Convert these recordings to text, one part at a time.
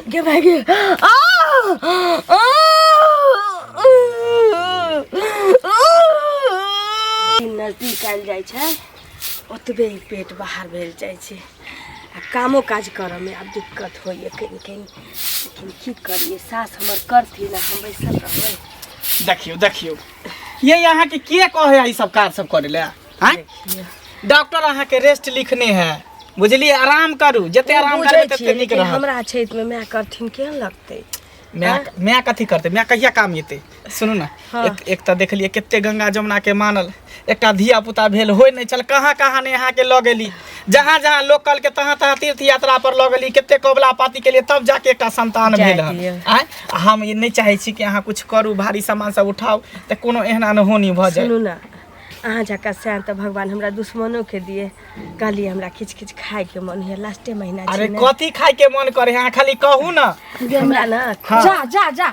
Get back here. Oh! Oh! नजदीक आयल जाइ छै ओतबे ही पेट बाहर भेल जाइ छै आ कामो काज करऽमे आब दिक्कत होइए कनि कनि लेकिन की करिए सास हमर करथिन आ हम बैसल रहबै देखियौ देखियौ ये अहाँके के कहै ई सब काज सब करै लए हाँ? डॉक्टर अहाँ के रेस्ट लिखने है बुझलिए आराम करू जते आराम बुझै करबे तते छियै नीक लेकिन रहत हमरा छैत में माय करथिन केहन लगतै मैं मैं कथी करते मैं कहिया काम एते सुनू ना हाँ। एक एक तऽ देखलिए कते गंगा जमुना के मानल एकटा धिया पुता भेल होय नहि चल कहाँ कहाँ ने यहाँ के लऽ गेली जहाँ जहाँ लोग कल के तहाँ तहाँ तीर्थ यात्रा पर लऽ गेली कते कबला पाती के लिए तब जाके एकटा संतान जाय भेल हन दियौ। आँय? आ हम ई नहि चाहै छी कि अहाँ कुछ करू भारी सामान सब उठाउ तऽ कोनो एहन अनहोनी भऽ जाय सुनू ना अहाँ जका सैन तऽ भगवान हमरा दुश्मनो के दिए कहली हमरा खिच खिच खाए के मन है लास्टे महीना अरे छी ने। कथी खाए के मन करे अहाँ खाली कहू ना हमरा ना हाँ। जा जा जा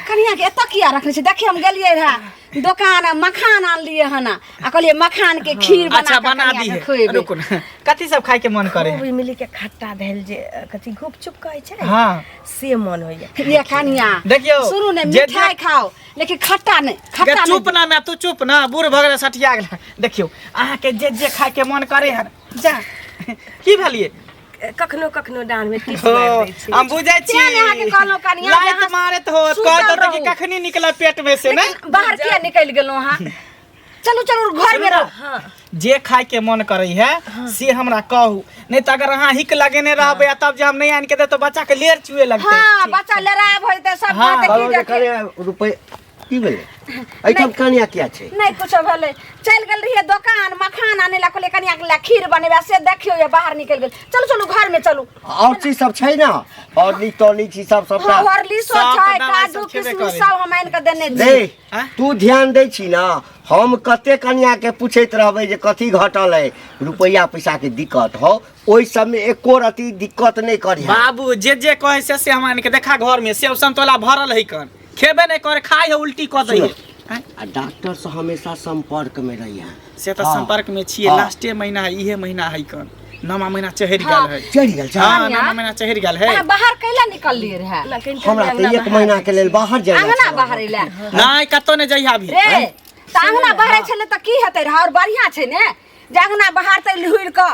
कनिया के एतऽ किया रखने छी देखिए हम गेलिए रहा दोकान आ मखान आनलिए हन आ आ कहलिए मखान के खीर बना अच्छा के बना कनिया दी के है खुएबै। रुकू ना कथी सब खाए के मन करे खूब इमली के खट्टा भेल जे अ, कथी गुपचुप कहै छै हाँ से मन होइए ये कनिया देखियौ, सुनू ने जे- मिठाई खाओ लेकिन खट्टा नहीं गे खट्टा चुप नहीं ना मैं तू चुप ना बूढ़ भऽ गेलै सठिया गेलै देखियौ अहाँके जे जे खायके मन करे हन जा की भेलियै कखनो कखनो डाँड़ में टिप हो, मारि दै छै हम बुझै छी तें ने अहाँके कहलहुँ कनिया जे लाइत अहाँ मारैत हो सुतल कहत कि रहू। कखनी निकलब पेट में से ने लेकिन बाहर किया निकल गेलहुँ अहाँ चलू चलू घर में रहो हाँ जे खाय के मन करे है से हमरा कहू नहीं तो अगर अहाँ हिक लगेने रहबे आ तब जे हम नहीं आन के दे तो बच्चा के लेर चुए लगते हाँ बच्चा लड़ाई भइल त सब हाँ, बात बाबा की जे जाके करे रुपए की भेलै एहिठाम कनिया किया छै नहीं कुछ भले चल गल रही दुकान मखान आने ला कोले कनिया के ला खीर बनेबा से देखियो ये बाहर निकल गेल चलू चलू घर में चलू और चीज सब छै ना और ली टॉली चीज सब सबटा हॉर्लिक्स सब छै, दवाई काजू सब छेबे किशमिश करे। सब हम आनि के देने छी दे आँय? तू ध्यान दै छी ना हम कते कनिया के पूछैत रहबै जे कथी घटल है रुपैया पैसा के दिक्कत हो ओहि सब में एको रति दिक्कत नहीं करी बाबू जे जे कहे से से हम आनि के देखा घर में सेव संतोला भरल है कन खेबे नहीं करे खाई है उल्टी कऽ दै है आ डॉक्टर से हमेशा संपर्क में रही है से तऽ हाँ। संपर्क में छिए हाँ। लास्टे महीना है इहे महीना है कन नवा महीना चहर हाँ। गेल है चढ़ि गेल छै हां नवा महीना चहर गेल है अहाँ बाहर कैला निकललिए रहे हमरा तऽ एक महीना के लेल बाहर जाय अंगना बाहर एला नहीं कतो ने जइहा अभी रे तऽ अंगना बाहर छले तऽ की हेतै रहे और बढ़िया छै ने जे अंगना बाहर तऽ लुइर कऽ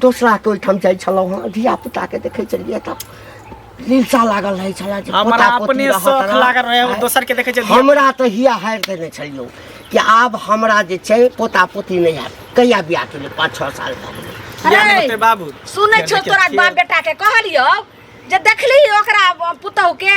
दोसराके ओहिठाम जाइ छलहुँ हँ धियापुताके देखै छलियै तऽ लीलसा लागल रहै छलै जे हमरा पोता पोती अपने रहत शौक रहत। लागल रहै, आँय, दोसर के देखै छै धिया- हमरा तऽ हिया हारि देने छलियौ कि आब हमरा जे छै पोता पोती नहि हैत कहिया बियाह केलियै पाँच छओ साल भऽ गेलै किया नहि होतै बाबू सुनै छौ देखियौ, तोरा छियै। बाप बेटा के कहलियौ जे देखली ओकरा पुतहु के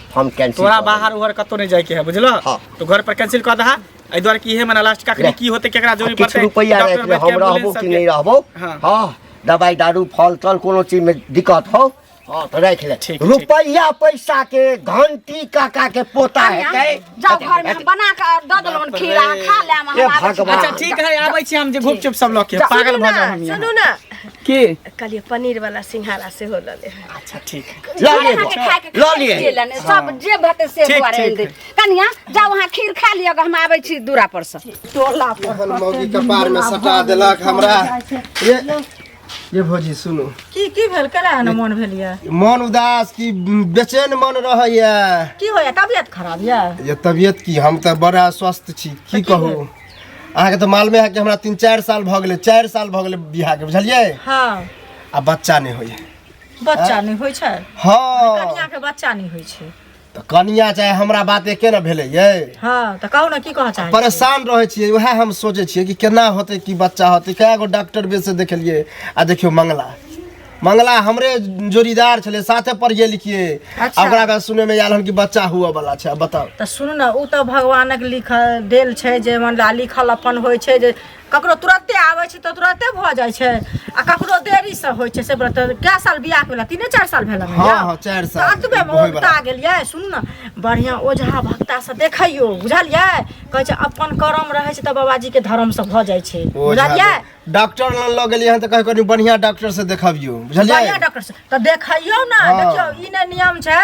हम कैंसिल तोरा कऽ बाहर उहर कतौ नहीं जाए के है बुझलो हाँ। तो घर पर कैंसिल कर दहा ए द्वारा की है मना लास्ट का रह। की होते केकरा देबो। जरूरी किछु पड़ते रुपैआ डॉक्टर राखि ले बैठ के हम रहबो एम्बुलेंस कि सबके। नहीं रहबो हाँ। हाँ दवाई दारू फल तल कोनो चीज में दिक्कत हो हाँ तो राखि ले ठीक, रुपैया पैसा के घंटी काका के पोता हेतै जाओ घर में बना के द देलन खीरा खा ले हम ए आबै छी। भगवान। अच्छा ठीक है आबै छी हम जे गुपचुप सब लऽ के पागल भऽ जाए हम यहाँ। सुनू ना के कहलिए पनीर वाला सिंघारा से हो लले अच्छा ठीक है ल ले खाना के खाए के ल खाए लिए के लेने, सब जे भते से ठीक, दुआरे ठीक दे कनिया जाओ वहां खीर खा लियो हम आबै छी दूरा पर से टोला पर अपन मौगी कपार में सटा देलक हमरा ये ये भौजी सुनो की की भेल केना एहन मोन भेल यऽ मन उदास की बेचैन मन रहैया की होइए तबियत खराब यऽ ये तबियत की हम तऽ बड़ा स्वस्थ छी की कहू अहाँके तो मालूमे है कि हमरा तीन चारि साल भऽ गेलै चारि साल भऽ गेलै बियाहके बुझलियै हँ आ बच्चा नहि होइए बच्चा नहि होइ छै हँ कनिया के बच्चा नहि होइ छै तऽ कनिया चाहे हमरा बात एके ने भेलै यै हँ तऽ कहू ने की कहऽ चाहै छी? परेशान रहै छियै उएह हम सोचै छियै कि केना होतै कि बच्चा होतै कए गो डॉक्टर बेर से देखलियै आ देखियौ मंगला मंगला हमरे जोड़ीदार छले साथे पढ़ गेल किए अच्छा। आ ओकरा बाद सुने में आयल हन कि बच्चा हुआ वाला छै बताओ तऽ सुनू ने ओ तऽ भगवानक लिखल देल छै जे मतलब लिखल अपन होइ छै जे ककरो तुरते आबै छै तऽ तुरते भऽ जाइ छै आ ककरो देरीसँ होइ छै से बता कए साल बियाह भेला तीने चारि साल भेला ने हँ, यौ? हँ, चारि साल। तऽ अतबे मे होय बला। उगता गेलियै सुनू ने बढ़िआँ ओझा भक्तासँ देखैयो बुझलियै कहै छै अपन करम रहै छै तऽ बाबाजीके धर्मसँ भऽ जाइ छै ओझा बुझलियै डॉक्टर लग लऽ गेलियै हन तऽ कहै कनि बढ़िया डॉक्टर से देखबियो बढ़िया बुझलियै डॉक्टर से तऽ देखैयौ ने हँ। देखियौ ई ने नियम छै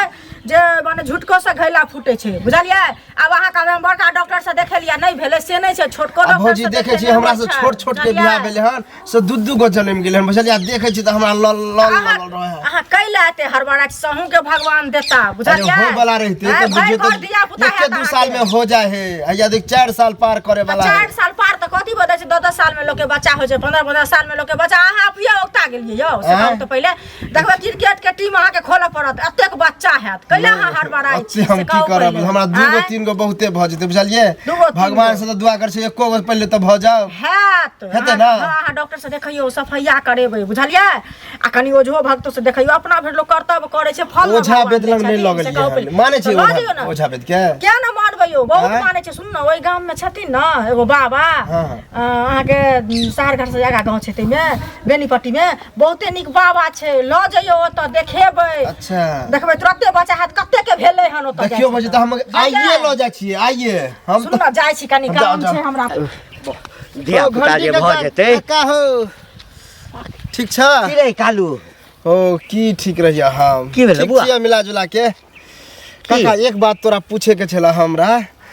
जे मने झुटको से घैला फूटे छै बुझलियै आब अहाँ कहबै हम बड़का डॉक्टर से देखेलियै नहि भेलै से नहि छै छोटको आ डॉक्टर भौजी से देखै छी देखेने हमरा होइ से छै, छोट छोट के बुझलियै? बियाह भेलै हन से दू दू गो जन्म गेलै हन बुझलियै आ देखै छी तऽ हमरा लल लल अहाँ लल रहै हन। अहाँ कैला एते हड़बड़ा छी, सहूँ के भगवान देता अरे बुझलियै हो वाला रहते हैं? तऽ भाय बुझियो घर तऽ धिया पुता एके हैत दू साल अहाँके। में हो जाए है आइया देख चार साल पार करे आ वाला चार है साल पार तऽ कथी बता छै दस दस साल में लोग के बच्चा होइ छै पंद्रह पंद्रह साल में लोग के बच्चा अहाँ अपिया उगता गेलियै यौ से आँय? कहू तऽ पहिले देखबै क्रिकेट के टीम अहाँके खोलऽ पड़त एतेक बच्चा हैत कैला अहाँ हड़बड़ाइ अब छी से हम से की कहू करब पहिले। हमरा दूगो आँय? तीन गो बहुते भऽ जेतै बुझलियै दूगो, तीन भगवान गो। से तऽ दुआ करै छै एको गो पहिले तऽ भऽ जाओ हैत हेतै अहाँ- ने? हँ, अहाँ डॉक्टर से देखैयौ सफैया करेबै बुझलियै आ कनि ओझो भक्तो से देखियो अपना भरि लोग कर्तव्य करे छै फल ने ओझा भगवान बेद दै लग नहि छथिन, लऽ से कहू गेलियै पहिले। हम। मानै छै तऽ लऽ ओझा- दियौ ने। ओझा बेद के किया ना मानबै यौ बहुत आँय? मानै छै सुन ने ओहि गाम में छथिन ने एगो बाबा हाँ, हाँ। अ, अहाँके सहरघाट से आगा गाँव छै ताहिमे बेनीपट्टी में बहुते नीक बाबा छै लऽ जइयो ओतऽ देखेबै अच्छा देखबै तुरते बच्चा हाथ कते के भेलै हन ओतऽ देखियो जाइ बजे तऽ हम छै। आइए लऽ जाइ छियै आइए हम सुन ने जाइ छी कनि हम जाउ, काम जाउ। छै हमरा धिया पुता जे भऽ जेतै का हो ठीक छ की रे कालू ओ की ठीक रहिया हम की भेलै ठीक बुआ? छियै मिला जुला के काका एक बात तोरा पूछे के छला हमरा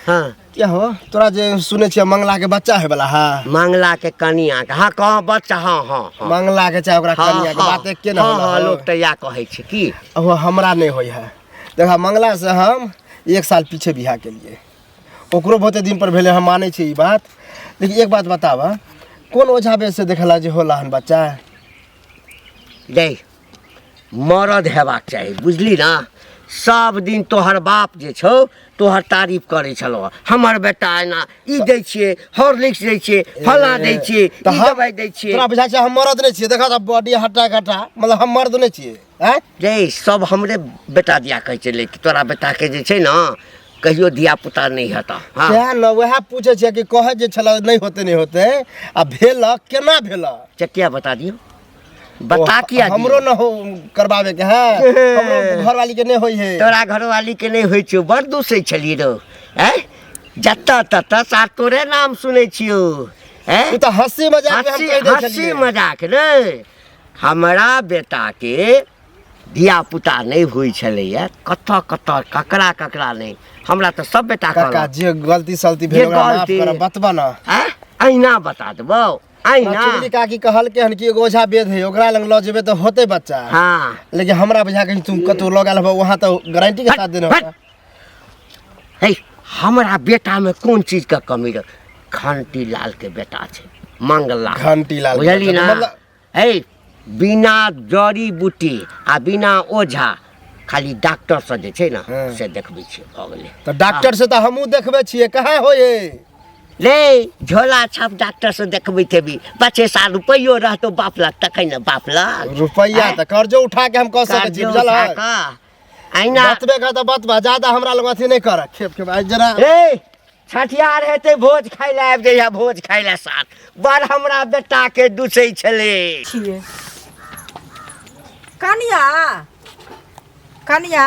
हाँ क्या हो तोरा जे सुने छियै मंगला के बच्चा है वाला हा मंगला के कनिया के हाँ कहाँ बच्चा हाँ हाँ हाँ मंगला के चाहे ओकरा हाँ, कनिया के हाँ, बात एके न हाँ, होला हाँ, हो। लोग तो या कहै छै की ओहो हमरा नहीं होय है देखा मंगला से हम एक साल पीछे बिहा के लिए ओकरो बहुते दिन पर भेले हम माने छी ई बात लेकिन एक बात बतावा कौन ओझा बेस से देखला जे होला हन बच्चा देख मरद हेबाक चाही बुझली ना सब दिन तोहर बाप जे छौ तोहर तारीफ करै छलो हमर बेटा एना ई दै छियै हॉर्लिक्स दै छियै फला दै छियै तऽ ई हम- दवाई दै छियै तोरा बुझाइ छै हम मरद नहि छियै देखा बॉडी हट्टा कट्टा मतलब हम मर्द नहि छियै आँय रे सब हमरे बेटा दिया कहै छै लेकिन तोरा बेटा के जे छै ना कहियो धिया पुता नहीं हता हाँ सएह ने उएह पूछै छियै कि कहै जे छलै नहि होते नहि होते आ भेल केना भेल चटिया बता दियो बता किया दियो? हमरो ने हो करबाबे के है हमरो घरवाली के नहि होइ है तोरा घरवाली के नहीं होइ छौ बड़ दूसै छलिए रो हैं जत तत सार तोरे नाम सुनै छियो हैं उ तऽ हँसी मजाक में हम हँसी कहि दै हँसी छलियै मजाक रे हमरा बेटाके धियापुता नहि होइ छलैए कतऽ कतऽ ककरा ककरा नहि हमरा तऽ सब बेटा काका कहलक जे गलती सलती जे भेल ओकरा माफ गलती- करब बतबऽ ना आँय? अहिना बता देबौ अहिना चुगली काकी कहलकै हन कि एगो ओझा वेद है ओकरा लग लऽ जेबै तऽ होतै बच्चा हँ लेकिन हमरा बुझा कहीं तुम कतौ लऽ गेल होबऽ वहाँ तऽ गारंटी के साथ देने होबऽ है हमरा बेटा में कोन चीज का कमी रह घंटी लाल के बेटा छै मंगला घंटी लाल के बुझली बेटा, ना मतलब- है बिना जड़ी बूटी आ बिना ओझा खाली डॉक्टर से जे छै ना हाँ। से देखबै छियै भऽ गेलै तऽ डॉक्टर से तऽ हमहूँ देखबै छियै कहाँ होय ले झोला छाप डॉक्टर से देखबै तेबी पचे साल रुपैयो रहतो बाप लग तखन ने बाप लग रुपैआ तऽ कर्जो उठा के हम कऽ सकै छी कर्जो बुझल उठा है कऽ आइना बतबे कर तऽ बतबा ज्यादा हमरा लग अथी नहि कर खेप खेप आइ जरा ए छठियार हेतै भोज खाय लए आबि जइहा भोज खाय लए साथ बड़ हमरा बेटाके दुसै छलै छिए कनिया कनिया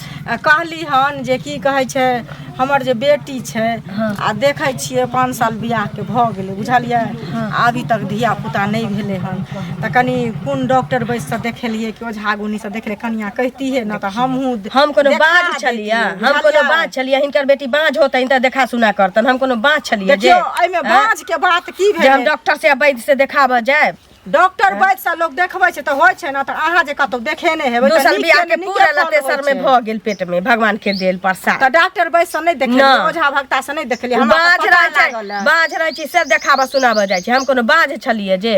आ कहली हन जे की कहै छै हमर जे बेटी छै आ देखै छियै पाँच साल बियाहके भऽ गेलै बुझलियै अभी तक धिया पुता नहि भेलै हन तऽ कनि कोन डॉक्टर बैस कऽ देखेलियै कि ओझा गुनी से देखले कनिया कहतियै ने तऽ हमहूँ हम कोनो देखा बाँझ देतियै, छलियै हम कोनो बुझलियै? बाँझ छलियै हिनकर बेटी बाँझ होतै तऽ देखा सुना करतन हम कोनो बाँझ छलियै जे देखियौ एहिमे आँय? बाँझ के बात की जे हम भेलै डॉक्टर से आ वैद्य से देखाबऽ जायब डॉक्टर वैद्य से लोग देखबै छै तऽ होइ छै ने तऽ अहाँ जे कतौ देखेने हेबै तऽ दोसर नीक बियाह के के नीके पूरा फल लते होइ सर मे छै। भऽ गेल पेट मे भगवान के देल प्रसाद तऽ डॉक्टर वैद्य से नहि देखलियै ना। ओझा भक्ता से नहि देखलियै हमरा बाँझ तऽ पता रहै छै लागल है। बाँझ रहै छै से देखाबऽ सुनाबऽ जाइ छै हम कोनो बाँझ छलियै जे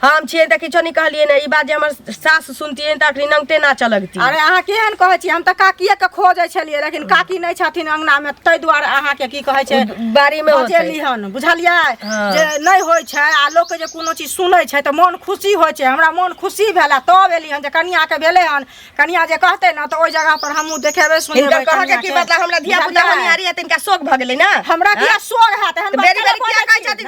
हम छियै देखै छौ नहि कहलियै ने ई बात जे हमर सास सुनतियै तऽ अखनी नंगटे नाचऽ लगती अरे अहाँ केहन कहै छी हम तऽ काकिए के खोजै छलियै लेकिन काकी नहि छथिन अंगना मे ताहि दुआरे अहाँ के की कहै छै बारी मे बजेली हन बुझलियै हाँ। जे नहि होइ छै आ लोक के जे कोनो चीज सुनै छै तऽ मोन खुशी होइ छै हमरा मोन खुशी भेल तब एली हन जे कनिया के भेलै हन कनिया जे कहते ने तऽ ओहि जगह पर हमहूँ देखेबै सुनेबै कह के की मतलब हमरा धिया पुता हनियारी है तिनका शोक भऽ गेलै ने हमरा किया हाँ। शोक हैत बेरी बेरी किया कहै छथिन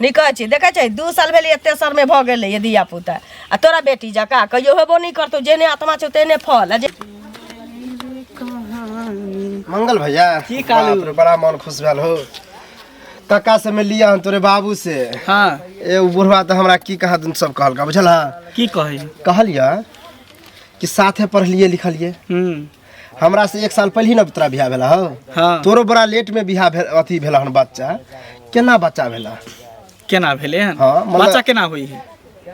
नहि कहै छी देखै छै दू साल भेलै एते सरमे भऽ गेलै ये धिया पुता आ तोरा बेटी जकाँ कहियो हेबो नहि करतौ जेहने आत्मा छौ तेहने फल आ जे मंगल भैया की कालू? बाप रे, बड़ा मन खुश भेल हो कक्का से में लिया हन तोरे बाबू से हाँ ए उ बुढ़वा तो हमरा की कहा तुम सब कहलका बुझल हा की कहै कहलिया कि साथे पढ़लिए लिखलिए हूँ हमरा से एक साल पहिले ने तोरा बियाह भेला हौ हाँ तोरो बड़ा लेट में बियाह भेल अथी भेला हन बच्चा केना बच्चा भेला केना भेलै हन हाँ, मतलब- बच्चा केना होइ है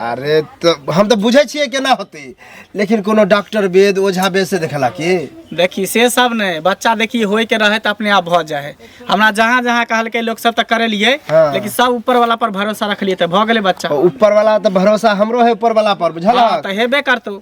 अरे तो हम तो बुझे छिए केना होते लेकिन कोनो डॉक्टर वेद ओझा वेद से देखला की देखी से सब नहीं बच्चा देखी होय के रहे तो अपने आप भ जाए है हमरा जहाँ जहाँ कहलकै लोग सब तो करेलिए हाँ। लेकिन सब ऊपर वाला पर भरोसा रखलिए तो भ गेलै बच्चा ऊपर वाला तो भरोसा हमरो है ऊपर वाला पर बुझला हाँ, तो हेबे करतौ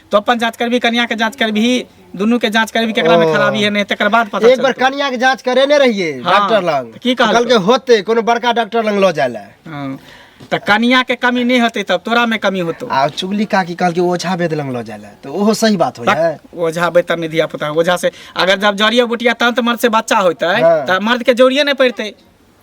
तो अपन जांच करबी कन्या के जांच करबी दुनू के जांच करबी केकरा में ओ। खराबी है नहीं तकर बाद पता एक बार चलतौ। कन्या के जांच करेने रहिए हाँ, डॉक्टर लग तऽ की कहलकै? कहलकै होते कोनो बड़का डॉक्टर लग लऽ जाय लए हँ, तऽ कन्या के कमी नहीं होते तब तोरा में कमी होतो आ चुगली काकी कहलकै ओझा वेद लग लऽ जाय लए तऽ ओहो सही बात होइ है बक, ओझा बैतर नहीं धिया पुता ओझा से अगर जब जड़िया बुटिया तंत मर्द से बच्चा होते हाँ। तऽ मर्द के जोड़िए नहीं पड़ते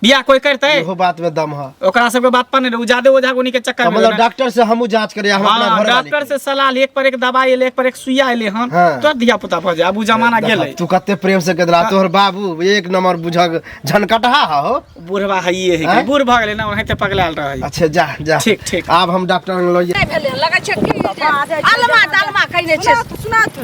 बियाह कोई करते इहो बात में दम है ओकरा सबके बात पर नहीं उ जादे ओझा गुनी के चक्कर में मतलब रहना। डॉक्टर से हमहू जांच करे हम अपना हाँ, घर डॉक्टर से सलाह ले, एक पर एक दवाई ले एक पर एक सुइया ले हन हाँ। तो धिया पुता भऽ जाय आब उ जमाना गेलै तू कते प्रेम से कदला तोहर बाबू एक नंबर बुझक झनकटहा हो बुढ़वा हइये है आँय? बूढ़ भऽ गेलै ना ओनाहिते पगलायल रहै अच्छा जा जा ठीक, ठीक। आब हम डॉक्टर लग नहीं भेलै लगै छै कि आलमा तालमा कइने छै सुनात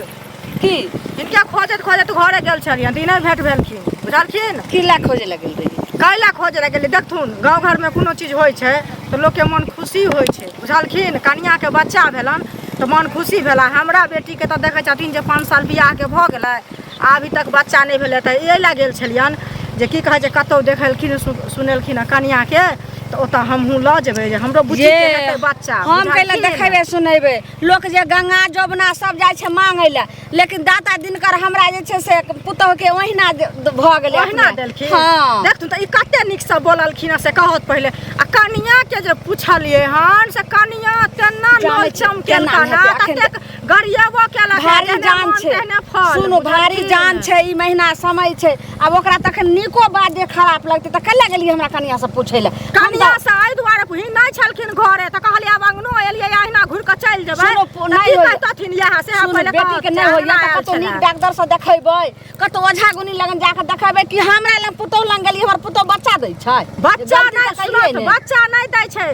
की इनका खोजत खोजत घरे गेल छलियन तऽ इन्हें भेंट भेलखिन बुझलखिन किला खोजे लगे रही कैला खोज रह गेलै देखथुन गाँव घरमे कोनो चीज होइ छै तऽ लोकके मन खुशी होइ छै बुझलखिन कनियाके बच्चा भेलन तऽ मन खुशी भेला हमरा बेटीके तऽ देखै छथिन जे पाँच साल बियाहके भऽ गेलै आ अभी तक बच्चा नहि भेलै तऽ एहि लए गेल छलियन जे की कहै छै कतहु देखलखिन सु- सुनेलखिन हँ कनियाके तऽ ओतऽ हमहूँ लऽ जेबै जे हमरो बुझिके जे हेतै बच्चा हम कैला बुझलखिन? देखेबे सुनेबे लोक जे गंगा जमुना सब जाइ छै मांगै लए लेकिन दाता दिनकर हमरा जे छै से पुतोह के ओहिना भऽ गेलै ओहिना देलखिन हां देखथुन तऽ ई कते नीक से बोललखिन से कहत पहिले आ कनिया के जे पुछलिए हन से कनिया तेना नल चमकेलका ना ततेक गरियाबो केला भारी जान छै सुनो भारी जान छै ई महीना समय छै आब ओकरा तखन नीको बात जे खराब लगतै तऽ कल्ला गेलियै हमरा कनिया से पूछै लए कनिया से एहि दुआरे ही नहि छलखिन घरे तऽ कहलियै आब अंगनो एलियै अहिना घुर कऽ चलि जेबै नहि कहतथिन इएह से हम पहिले बेटी के नहि होइया तऽ कतौ नीक डॉक्टर से देखेबै कतौ ओझा गुनी लगन जाके देखेबै कि हमरा लग पुतौ लग गेलियै हमर पुतौ बच्चा दै छै बच्चा नहि सुनत बच्चा नहि दै छै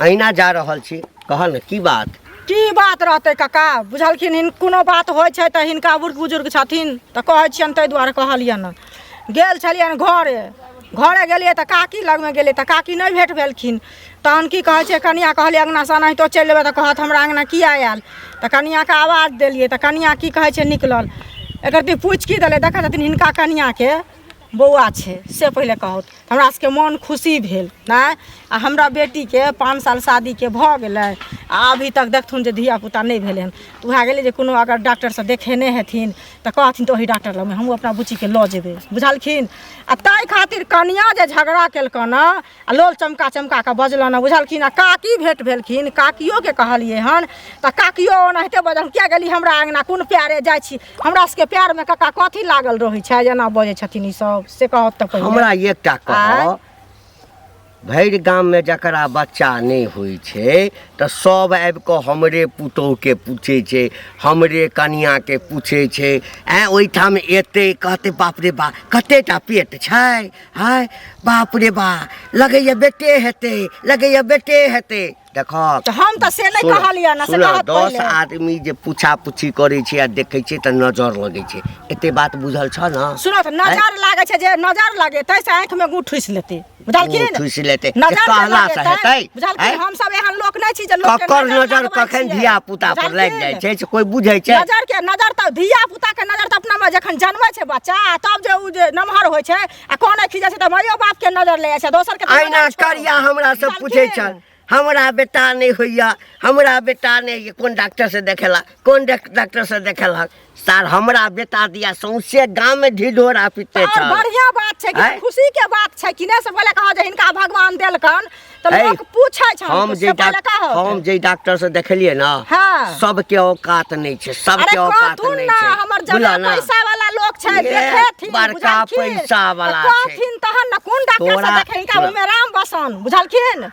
अहिना जा रहल छी कह ने की बात की बात रहतै काका बुझलखिन हिन कोनो बात होइ छै तऽ हिनका बुढ़ बुजुर्ग छथिन तऽ कहै छियनि ताहि दुआरे कहलियनि हँ। गेल छलियनि घरे घरे गेलियै तऽ काकी लगमे गेलियै तऽ काकी नहि भेट भेलखिन तहन की कहै छै कनिया कहलियै अङ्गनासँ एनाहितो चलि लेबै तऽ कहत हमरा अङ्गना किए आयल तऽ कनियाके आवाज देलियै तऽ कनिया की कहै छै निकलल एकर ती पूछि की देलै देखै छथिन हिनका कनियाके बौआ छै से पहिले कहत हमरा सबके मोन खुशी भेल नहि आ हमरा बेटीके पाँच साल शादीके भऽ गेलै आ अभी तक देखथुन जे धियापुता नहि भेलै हन तऽ उएह गेलै जे कोनो अगर डॉक्टरसँ देखेने हेथिन तऽ कहथिन तऽ ओहि डॉक्टर लगमे हमहूँ अपना बुच्चीके लऽ जेबै बुझलखिन आ ताहि खातिर कनिआँ जे झगड़ा केलकनि हेँ आ लोल चमका चमका कऽ बजलनि बुझलखिन आ काकी भेंट भेलखिन काकियोके कहलियै हन तऽ काकियो ओनाहिते बजल किया गेली हमरा अङ्गना कोन प्यारे जाइ छी हमरा सबके प्यारमे कका कथी लागल रहै छै एना बजै छथिन ई सब से कहत तऽ पहिले हमरा एकटा कह भरि गाममे जकरा बच्चा नहि होइ छै तऽ सब आबि कऽ हमरे पुतोहके पूछै छै हमरे कनियाके पूछै छै आँय ओहिठाम एतै कहतै बाप रे बाप कतेटा पेट छै हाय बाप रे बा लगैया बेटे हेतै लगैया बेटे हेतै देखक तऽ हम तऽ से नहि सुनऽ, कहलियै ने से सुनऽ, कहत दस पहिले आदमी जे पूछा पूछी करै छै आ देखै छै तऽ नजर लगै छै एते बात बुझल छ न सुनो तऽ नजर लागै छै जे नजर लगेतै से आँखिमे गुठ ठुसि लेतै बुझलखिन ठुसि लेतै नजर जे जे कहला से लगेतै, हेतै बुझलखिन आँय? हम सब एहन लोक नहि छी जे लोक ककर नजर कखन धिया पुता पर लागि जाइ छै से कोई बुझै छै नजर के नजर तऽ धिया पुता के नजर तऽ अपना मे जखन जन्मै छै बच्चा तब जे उ जे नमहर होइ छै आ कोन अखी जाइ छै तऽ माइयो बाप के नजर ले जाइ छै दोसर के तऽ अहिना नजर छोड़ू। करिया हमरा से बुझलखिन? पूछै छल हमरा बेटा नहि होइया हमरा बेटा नहि होइया कोन डॉक्टर से देखेला कोन डाक- डॉक्टर से देखेलक सार हमरा बेटा दिया सौंसे गाम में ढिढोरा पीते और छल बढ़िया बात छै आँय? कि खुशी के बात छै कि ने से पहिले कहो जे हिनका भगवान देलकन त ऐ, लोग पूछै छै हम जे पहिले डाक- कहो हम जे डॉक्टर से देखलिए ना हाँ। सबके औकात नहीं छै अरे सबके औकात कहथुन नहीं ना छै हमर बुझल जमा ना? पैसा वाला लोग छै ये देखेथिन बड़का बुझलखिन? पैसा वाला तऽ छै। कहथिन तहन न कोन डॉक्टर से तोरा- देखे हिनका तोरा- उमे राम बसन बुझलखिन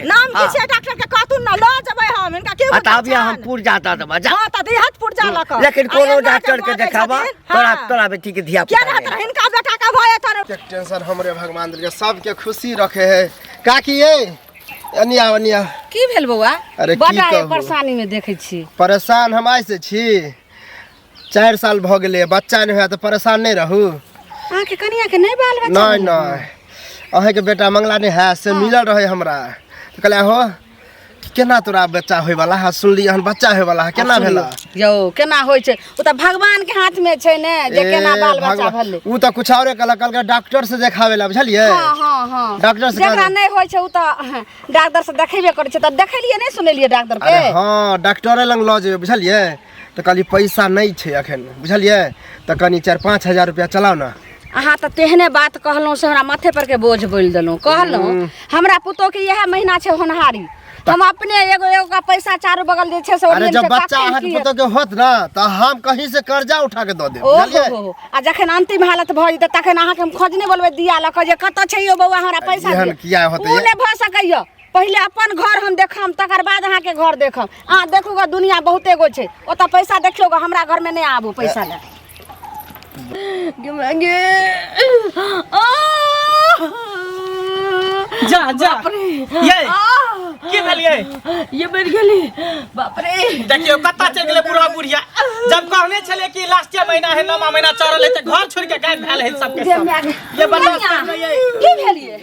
नाम की छै डॉक्टर के कहतुन ना ल जबै हम इनका की बता दिया हम पुरजा द देबा जा हां त दिहत पुरजा ल क लेकिन कोनो डॉक्टर के देखाबा तोरा तोरा बेटी के धिया पुता रहत रहे इनका बेटा का भय तोर के टेंशन हमरे भगवान दे सब के खुशी रखे है काकी ए अनिया अनिया की भेल बौआ अरे बड़ा परेशानी में देखे छी परेशान हम आइ से छी चारि साल भऽ गेलै बच्चा नहि होया तऽ परेशान नहि रहू अहाँके कनिया के नहि बाल बच्चा नहि नहि अहाँके बेटा मंगला नहि है से मिलल रहे हमरा तऽ कहलियै हो केना तोरा बच्चा होयवला है सुनली हन बच्चा होयवला है केना भेला यौ केना होइ छै ओ तऽ भगवान के हाथ में छै ने जे ए, केना बाल बच्चा भगवान। भेलै ऊ तऽ कुछ औरे कहलक कहलक डॉक्टर से देखावे ला बुझलियै हाँ हाँ हाँ डॉक्टर से जकरा कहलक। नहि होइ छै ओ तऽ डॉक्टर से देखेबे करै छै तऽ देखेलियै नहि सुनेलियै डॉक्टर के अरे हाँ डॉक्टरे लग लऽ जेबै बुझलियै तऽ कहली पैसा नहि छै अखन बुझलियै तऽ कनी चारि पाँच हजार रुपया चलाउ ने अहाँ तऽ तेहने बात कहलहुँ से हमरा माथे पर के बोझ बोलि देलहुँ कहलहुँ हमरा पुतोह के इएह महीना छै होनहारी हम अपने एगो एगो का पैसा चारू बगल जे छै से अरे ओरियन जब के बच्चा कखन अहाँके की पुतोह के होत ना तऽ हम कहीं से कर्जा उठा के दऽ देब ओ हो बुझलियै हो हो। आ जखन अंतिम हालत भऽ जेतै तखन अहाँके हम खोजने बोलबै दिया लऽ कऽ जे कतऽ छै यौ बौआ हमरा पैसा एहन दिअ। किया होतै ओ ये? नहि भऽ सकैया पहिले अपन घर हम देखम तकर बाद अहाँके घर देखम अहाँ देखू गे दुनिया बहुते गो छै ओतऽ पैसा देखियौ गे हमरा घरमे नहि आबू पैसा लए गे माँ गे आह! जा जा बाप रे ये आह! की भेल ये ये मरि गेली बाप रे देखियो कत्ता चलि गेलै बूढ़ा बुढ़िया जब कहने छले कि लास्टे महीना है नौमा महीना चढ़ल है तऽ घर छोड़ के गायब भेल है सबके गे सब माय गे। ये बर्दाश्त कनिया, करबै, ये। की भेलियै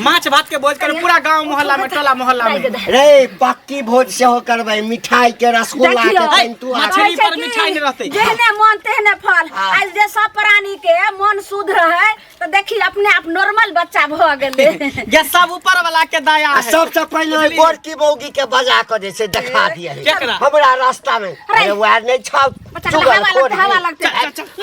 माछ भात के भोज करबै पूरा गांव मोहल्ला में टोला मोहल्ला में रे पक्की भोज सेहो करबै मिठाई के रसगुल्ला के देखियौ। तंतु आर मछली पर मिठाई नहि रहतै। जेहने मन तेहने फल हाँ। आज जे सब प्राणी के मन शुद्ध रहे तो देखी अपने आप नॉर्मल बच्चा भ गेले ये सब ऊपर वाला के दया आ है सबसे पहिले ओइ बड़की बौगी के बजा के जे छै देखा दिए केकरा? हमरा रास्ता में अरे वार नहि छौ बच्चा के चुगल हवा लगतै, हवा लगतै।